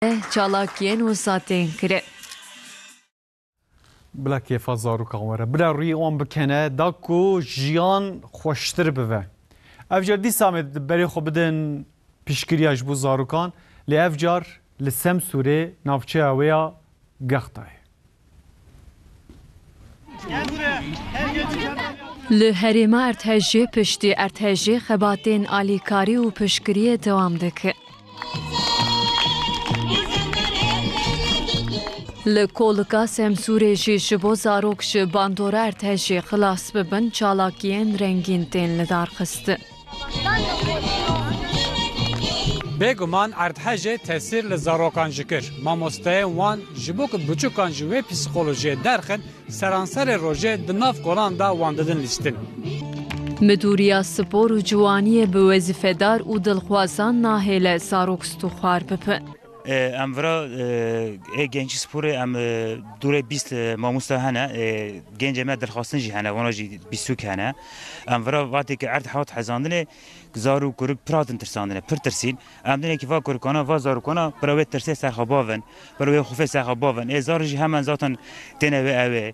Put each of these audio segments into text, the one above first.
re çalakiyên wisa tên kirin. Bila kêfa zarokan were, bila rûyê wan bikene da ku jiyan xweştir bibe. Ev car dîsa em ê berê xwe bidin piştgiriya ji bo zarokan lê ev car li Semsûrê navçeya wê ya Gextayê. Li herêma Erdhejê piştî erdhejê xebatên alîkarî û piştgiriyê dewam dikin. Li Kolika Semsûrê jî ji bo zarok ji bandora erdhejê xilas bibin çalakiyên rengîn tên lidarxistin. Bêguman erdhejê tesîr li zarokan jî kir. Mamosteyên wan ji bo ku biçûkan ji wê psîkolojiyê derxin, seranserê rojê di nav kolan de wan didin lîstin. Midûriya Spor û Ciwaniyê bi wezîfedar û dilxwazan nahêle zarok stûxwar bibin. Em vira ê gençî sporê em dûrê bîst mamosta hene, gencê me dilxwastin jî hene, wana jî bîsûk hene. Em vira vatêkî erd hat hezandinê, zarok kurik pir hatin tirsandinê, pir tirsîn. Em dinekî va kurikana, va zarokana bila wê tirsê serxwe bavin, bila wê xûfê serxwe bavin. Ê zar jî hemen zaten têne wê ewê.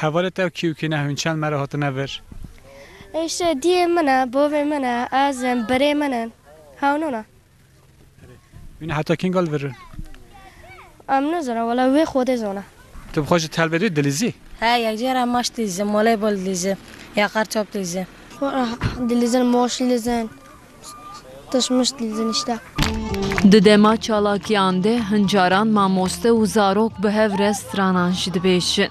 Hevalê te û kî û kî ne hûnçend me re hatine vir? Îşte diyê min e, bavê min e, ez im, birê min in. Hewno ne. Hûn ê heta kî gal vir in? Em nizanin wele wê Xwedê zana. Tu bi xwe ji telbê dê dilîzî? He, yekcar em maş dilîzin, moley bol dilîzin ya qar çap dilîzin. Xwe re dilîzin, maş dilîzin. Di dema çalakiyan de hin caran mamoste û zarok bi hev re stranan jî dibêjin.